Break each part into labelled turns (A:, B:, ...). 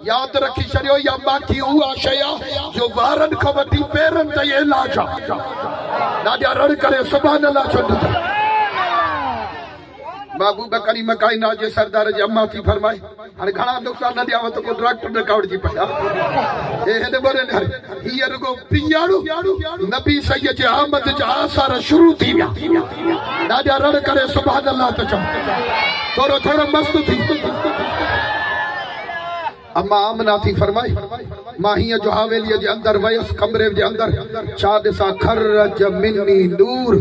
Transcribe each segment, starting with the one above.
A: ياد رکي ڇڏيو يا ماکي اها شيء آ جو وارن کان وٺي پيرن تائين علاج آ ڏاڏيا رڙ ڪري سبحان الله چوندي ٿي محبوبه ڪريمه ڪائنات جي سردار جي اما ٿي فرمائي هاڻي گهڻا نقصان نه ڏيانو ته ڪو ڊاڪٽر نه ڪاوڙجي پئي ها هي هن ٻرين هري هي رڳو پياڻو نبي سيد جي آمد جا آثار شروع ٿي ويا ڏاڏا رڙ ڪري سبحان الله ته چئو ٿورو ٿورو مست ٿي اما آمنا ٿي فرمائي مان هيئن جو حاويلي جي اندر ويس ڪمري جي اندر ڇا ڏسان خرج مني نور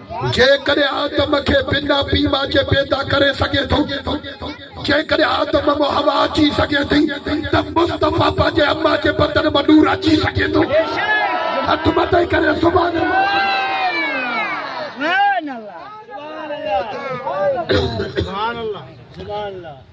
A: جيڪڏهن آدم کي بنا پيء ماء جي پيدا ڪري سگهي ٿو، جيڪڏهن آدم مان حوا اچي سگهي ٿي ته مصطفيٰ پنهنجي اما جي بدن مان نور اچي سگهي ٿو. هٿ مٿي ڪري سبحان الله.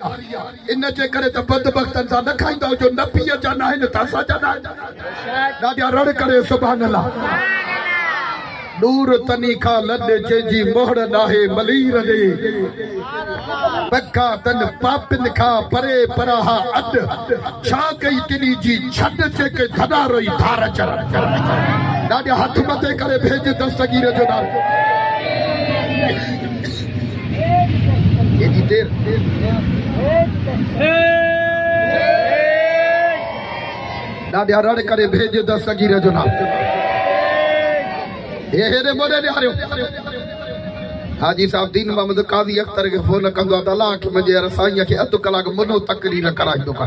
A: ان جي ڪري ته بدبختن سان نه کائيندؤ جو نبيء جا ناهن ته اسان جا ناهن. ڏاڏيا رڙ ڪري سبحان الله. نور تني کان لڏ جنهن جي مهڙ ڏاهي ملير ڏي. پکا تن پاپين کان پري پراها اڏ. ڇا ڪئي تني جي ڇڏ جيڪي ٿڏا رئي ڌار چر. ڏاڏيا هٿ مٿي ڪري ڀيڄ دستگير جو نالو. ڏاڍيا رڙ ڪري ڀيڄ دستگير جو نام هي هيڏي موڏي ڏياريو حاجي صاحب دين محمد قاضي اختر کي فون ڪندو ته الله کي منجي رسائي کي اڌ ڪلاڪ منو تقرير ڪرائيندو ڪا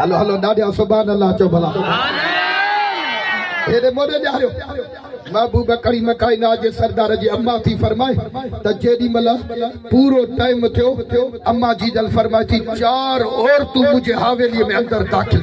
A: هلو هلو ڏاڍيان سبحان الله چو ڀلا هيڏي موڏي ڏياريو محبوب ڪريم ڪائنات جي سردار جي اما ٿي فرمائي ته جيڏي ملا پورو ٽائيم ٿيو اما جي جل فرمائي ٿي چار عورتون مجھي حويلي ۾ اندر داخل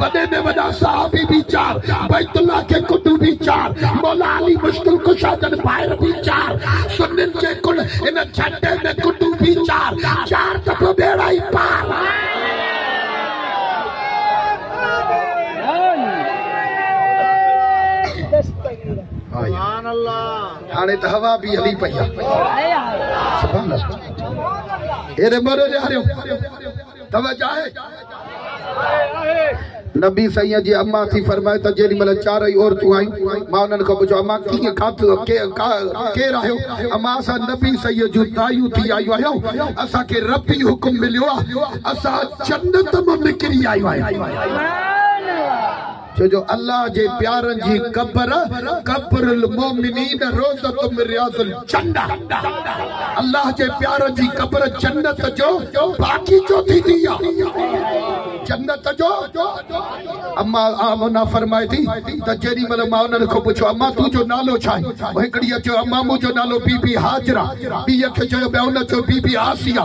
A: وڏي ۾ وڏا صحابي به چار، بيت الله جي ڪنڊون به چار، مولا علي مشڪل ڪشا جن ڀائر به چار، سنن جي ڪل هن جهٽي ۾ ڪنڊون به چار، چار ته پوء ٻيڙا ئي پار. هاڻي ته هوا به هلي پئي آهي. توجه آهي؟ نبي سائين جي اما ٿي فرمائي ته جيڏي مهل چارئي عورتون آيون، مان انهن کان پڇيو، اما ڪيئن کاڌو، ڪير آهيو؟ اما اسان نبي سائين جون دايون ٿي آيون آهيون، اسان کي ربي حڪم مليو آهي، اسان جنت مان نڪري آيون آهيون. ڇو جو الله جي پيارن جي قبر قبر المومنين روضة من رياض الجنة الله جي پيارن جي قبر جنت جو باغيچو ٿيندي آ جنت جو اما آمنه فرمائي ٿي ته جيڏي مهل مان انهن کان پڇيو اما تون جو نالو ڇا آهي هڪڙيء چيو اما منهنجو نالو بي بي هاجره ٻيء کي چيو ٻيو نه چيو بي بي آسيه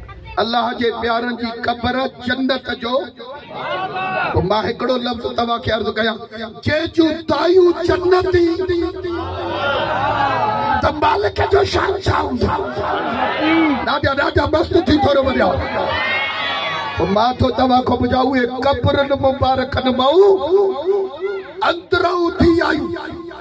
B: الله
A: جي پيارن جي قبر جنت جو پوء مان هڪڙو لفظ توهان کي عرض ڪيان جنهن جون دايون جنتي ته مالڪ جو شان ڇا هوندو ڏاڍا ڏاڍا مست ٿي ٿورو وريا پوء مان ٿو توهان کان پڇان اهي قبرن مبارڪن مان اندرون ٿي آيون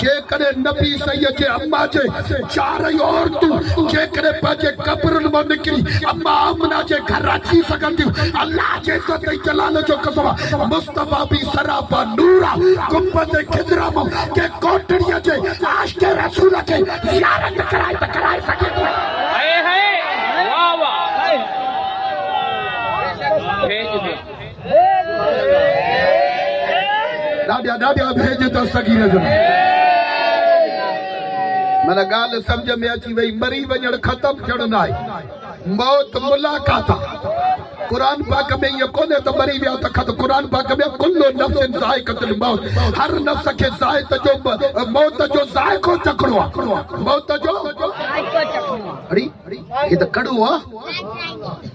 A: جيڪڏهن نبي صحيح جي امّا جي چارئي عورتون جيڪڏهن پنهنجي قبرن مان نڪري امّا آمنه جي گهر اچي سگهنديون، الله جي عزت ۽ جلال جو قسم آ، مصطفيٰ به سراپا نور آ، گنبذ خضرا مان ڪنهن ڪوٽڙيء جي عاشق رسول کي زيارت ڪرائي ته ڪرائي سگهي ٿو. هائي هائي واھ واھ. ڏاڍا ڏاڍا ڀيڄ ته سگي نظر من ڳالهه سمجھ ۾ اچي وئي مري وڃڻ ختم ٿيڻ نه آهي موت ملاقات آهي قرآن پاڪ ۾ ائين ڪونهي ته مري ويا ته ختم قرآن پاڪ ۾ ڪل نفس ذائقة الموت هر نفس کي ذائقه جو موت جو ذائقو چکڻو آهي موت جو ذائقو چکڻو آهي هي ته ڪڙو آهي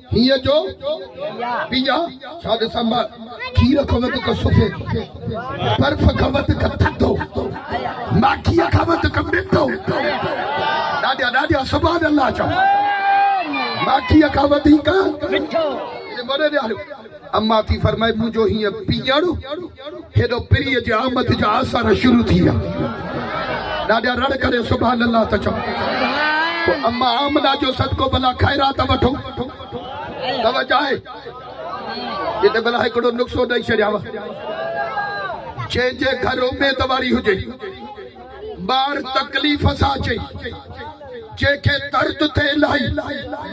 A: هيء جو پيء ڇا ڏسانبا کير کان وڌيڪ سفيد برف کان وڌيڪ ٿڌو ماکيء کان وڌيڪ مٺو ڏاڏا ڏاڏا سبحان الله چئو ماکيء کان وڌيڪ مٺو اما ٿي فرمائي منهنجو هيئن پيئڻ هيڏو پرينء جي آمد جا آثار شروع ٿي ويا. ڏاڏا رڙ ڪري سبحان الله ته چئو. پوء اما آمنه جو صدقو ڀلا خيرات وٺو. توجه آهي؟ جتي ڀلا هڪڙو نقصو ڏئي ڇڏيانء. جنهن جي گهر اميد واري هجي. ٻار تڪليف سان چئي جنهن کي درد ٿئي الائي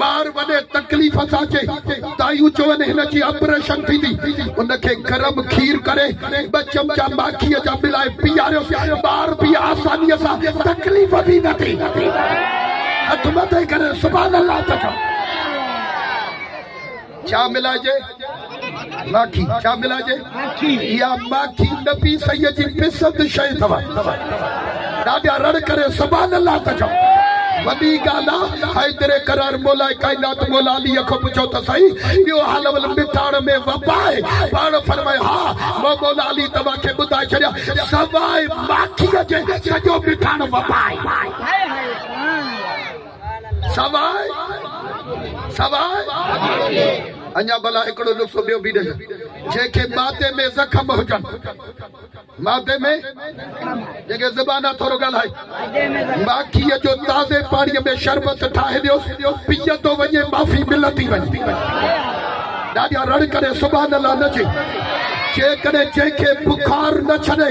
A: ٻار وڏي تڪليف سان چئي دائيون چون هن جي اپريشن ٿيندي ان کي گرم کير ڪري ٻه چمچا ماکي جا ملائي پياريوس ٻار به آساني سان تڪليف به نه ٿي هٿ مٿي ڪري سبحان الله ته چئو. ڇا ملائجي؟ ماکي ڇا ملائجي؟ اها ماکي نبي سيد جي پسند شيء اٿو. ڏاڍا رڙ ڪري سبحان الله ته چئو. وڏي ڳالهه آ. حيدر قرار مولاء ڪائنات مولا علي کان پڇو ته سهي اهو حال اول مٺاڻ ۾ وبا آهي؟ پاڻ فرمايو ها. مون مولا علي توهان کي ٻڌائي ڇڏيا سواء ماکيء جي سڄو مٺاڻ وبا آهي. سواء سواء اڃا ڀلا هڪڙو نسخو ٻيو به ڏيس جنهن کي معدي ۾ زخم هجن معدي ۾ جنهن کي زبان آ ٿورو ڳالهائي ماکيء جو تازي پاڻيء ۾ شربت ٺاهي ڏيوس پيئندو وڃي معافي ملندي وڃي ڏاڍا رڙ ڪري سبحان الله نه چئي جيڪڏهن جنهن کي بخار نه ڇڏي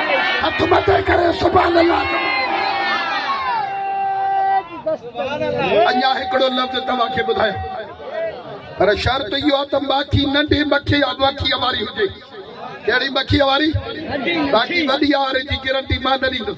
A: هٿ مٿي ڪري سبحان الله چوان اڃا هڪڙو لفظ توهان کي ٻڌايان پر شرط اهو آهي ته ماکي ننڍي مکي يا مکي واري هجي ڪهڙي مکي واري باقي وڏي آري جي گرنٽي مان نه ڏيندس